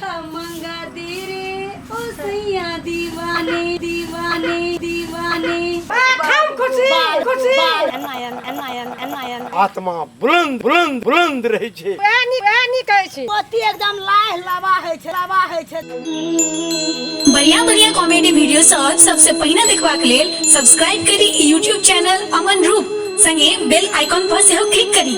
खमंगा दी रे ओ सैया दीवाने दीवाने दीवाने आत्मा बुलंद बुलंद बुलंद रहै छै पति एकदम लाह लावा है छै लावा है छै बढ़िया बढ़िया कॉमेडी वीडियो सब सबसे पहिने देखबाक लेल सब्सक्राइब करी यूट्यूब चैनल अमन रूप संगे बेल आइकॉन पर सेहो क्लिक करी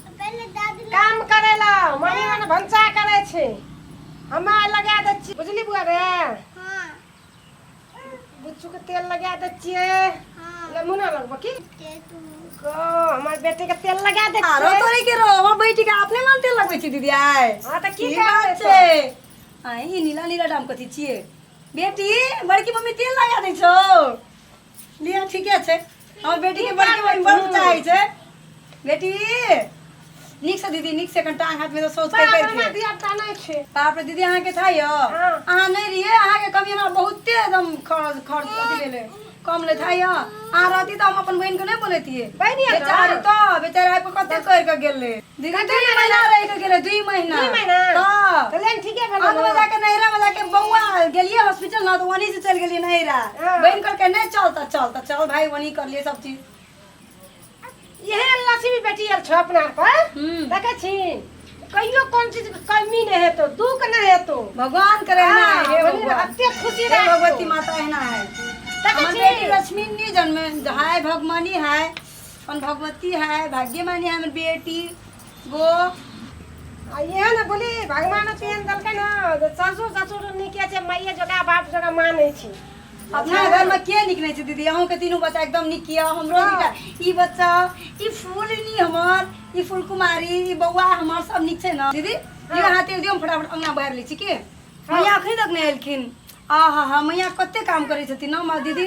काम करे ला मम्मी मन भंसा करे छे हमे लगा दे छी बुझली बुआ रे हां बुच्चू के तेल लगा दे छिए हां ले मुना लगबो की के तू को हमर बेटे के तेल लगा दे आरो छिए तोरे के रो हो बैठ के अपने मन तेल लगबै छी दीदी आय हां त की की बात बात छै छै आय ई नीला नीला डाम कथी छिए बेटी बड़की मम्मी तेल लगा दै छौ लिया ठीके छै हमर बेटी के बड़की बहिन बड़ चाहै छै बेटी नीक से दीदी नीक से कनि टांग हाथ में से सोच के बाप रे, हमरा करके दिया ता नहीं छे बाप रे दीदी अहाँ के था यो हाँ। अहाँ नहीं रहिए अहाँ के कमी हमरा बहुते एकदम खर्च खर्च अथी भेले कम ले था यो अहाँ रहती तो हम अपन बहन के नहीं बोलतिए बहिनिया ना। बेचारी तो बेचारी आबि के कते कर के गेल रहे देखा दू महीना रह के गेले दू महीना दू महीना? हां कल्याण ठीके भेल अंत में जाके नैरा में जाके बौआ गेलिए हॉस्पिटल ना तो वनी से चल गेलिए नैरा हाँ। बहन करके नहीं चलता चलता चल भाई वनी कर लिए सब चीज इहे लक्ष्मी बेटी आयल छ अपना पर हम्म। देखे छी कहियो कोन चीज के कमी नहीं हेतो दुख नहीं हेतो भगवान करे ना हाँ, हे वही भगवान रहते खुशी हे रहे भगवती माता है ना है देखे हमर छी बेटी लक्ष्मी नहीं जन्मे हाय भगवानी हाय अपन भगवती है भाग्य मानी है हमर बेटी गो आ इहे ने बोली भगवान तेहन देलकै ने जे सासुर ससुर नीके छै माइए जकाँ बाप जकाँ मानै छी अपना घर में के निक नहीं छै दीदी अहूँ के तीनू बच्चा एकदम निक यऽ हमरो हाँ। निका ई बच्चा ई फूल नी हमर ई फूल कुमारी ई बौआ हमर सब निक छै ना दीदी हाँ। यहाँ तेल दियो हम फटाफट अंगना बाहर लै छी की मैया अखन तक नहीं एलखिन आहा हा मैया कते काम करै छथिन ना माँ दीदी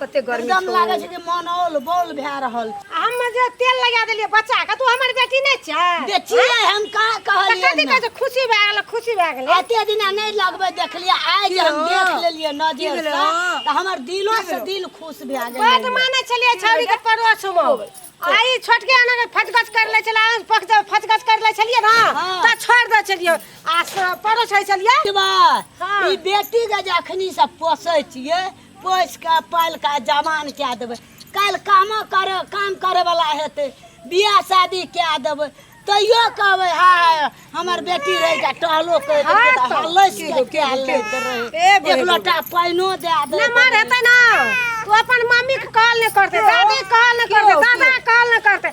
कते गर्मी एकदम छौ लागे छै जे मन औल बौल भए रहल छै आ हम जे तेल लगा देलियै बच्चा के तू हमर बेटी नहि छै देखिए हम का तऽ कथी कहलियै कहै छै खुशी भए गेलै खुशी भए गेलै एते दिना नहि लगबै देखलियै आइ जे हम देख लेलियै नजर से तऽ हमर दिलो से दिल खुश भए बड गेलै माने छलियै छौरी के पड़ोस मे आई छोटके आना के फटगच कर ले छला पक जब फटगच कर ले छलियै ना हाँ। त छोड़ दे छलियै आ स- पड़ोस है छलियै की बात? हाँ। ई बेटी के जे अखनी से पोसै छियै पोसि कऽ पालि कऽ जवान कए देबै काल्हि कामो कर काम करयवला हेतै बियाह शादी कए देबै तैयो कहबै हा हमर बेटी रहै जा टहलो करि देबै तऽ हल्लैस के कए लैत रहै एक लोटा पानिओ दए देबै नमहर हेतै ने ओ अपन मम्मीके कहल नहि करतै दादी कहल नहि करतै दादा कहल नहि करतै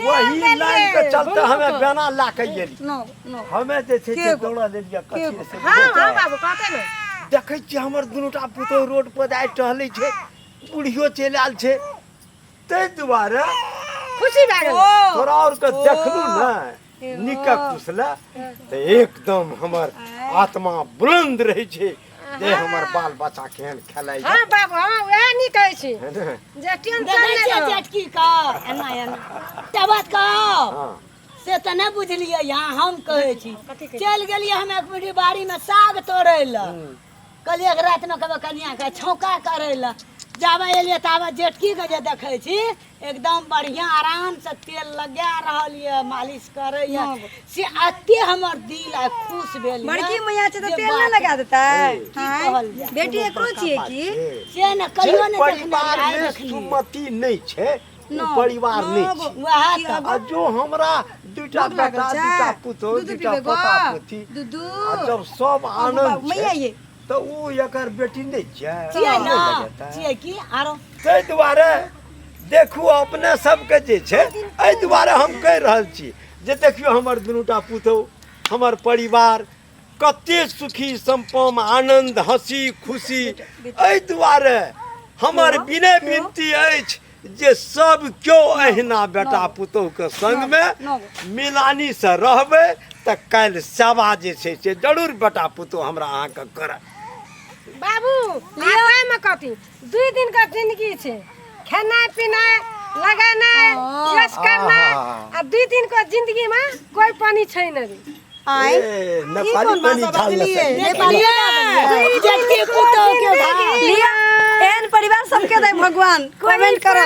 वही लाइन के चलते हमे बेना ला के गेली नो नो हमे जे छै से दौड़ा लेलिए कथी से हां हां बाबू कहते ने देखै छी हमर दुनूटा पुतो रोड पर जाय टहलै छै बुढ़ियो चलि आयल छै ताहि दुआरे खुशी भए गेल तोरा और के देखलू ने निकक कुसला तऽ एकदम हमर आत्मा बुलंद रहै छै जे हमर बाल बच्चा केहन खेलाइ छै हाँ बाबू हाँ वएह नहीं कहै छी है ने? जे टेंशन देखै नहीं छियै रहत जेठकी का एना एना एकटा बात कहब हाँ से तऽ नहि बुझलियै यहाँ हम कहै छी चलि गेलियै हम एक मिनट बाड़ीमे साग तोड़ै लए कहलियै एक रातिमे कहबै कनियाँके छौका करै लए जाबे एलियै ताबे जेठकीके जे देखै छी एकदम बढ़िआँ आरामसँ तेल लगा रहल यऽ मालिश करै यऽ से अते हमर दिल आइ खुश भेल बड़की मैया छै तऽ तेल नहि लगा देतै बेटी एकरो छियै की से ने कहियो नहि देखने सुमति नहि छै उ परिवार नहि नौ गो। छी वएह की तऽ एगो? आ जो हमरा दूटा भूख लागल बेटा छै? दूटा पुतोह दूध दूटा पीबे गो? पोता पोती दूध? आ जब सब बाबू, आनन्द मैया छै ये। तऽ ओ एकर बेटी नहि छै छियै नहि ने लगेतै। छियै की आरो ताहि दुआरे देखू अपने सबके जे छै एहि दुआरे हम कहि रहल छी जे देखियौ हमर दुनूटा पुतोह हमर परिवार कते सुखी सम्पम आनन्द हँसी खुशी एहि दुआरे हमर विनय विनती अछि जे सब केओ अहिना बेटा पुतोहके सङ्गमे मिलानीसँ रहबै तऽ काल्हि सेवा जे छै से जरूर बेटा पुतोह हमरा अहाँके करत बाबू लिअ ओहिमे कथी दुई दिनका जिन्दगी छै खेनाइ पिनाइ लगेनाइ यस करनाइ आ दुई दिनको जिन्दगीमे कोइ पानि छै नै आय नेपाली पानी छाल एहन परिवार सबके दै भगवान कमेंट करो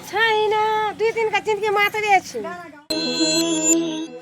छै ना दुई दिनका जिन्दगी मात्रै छै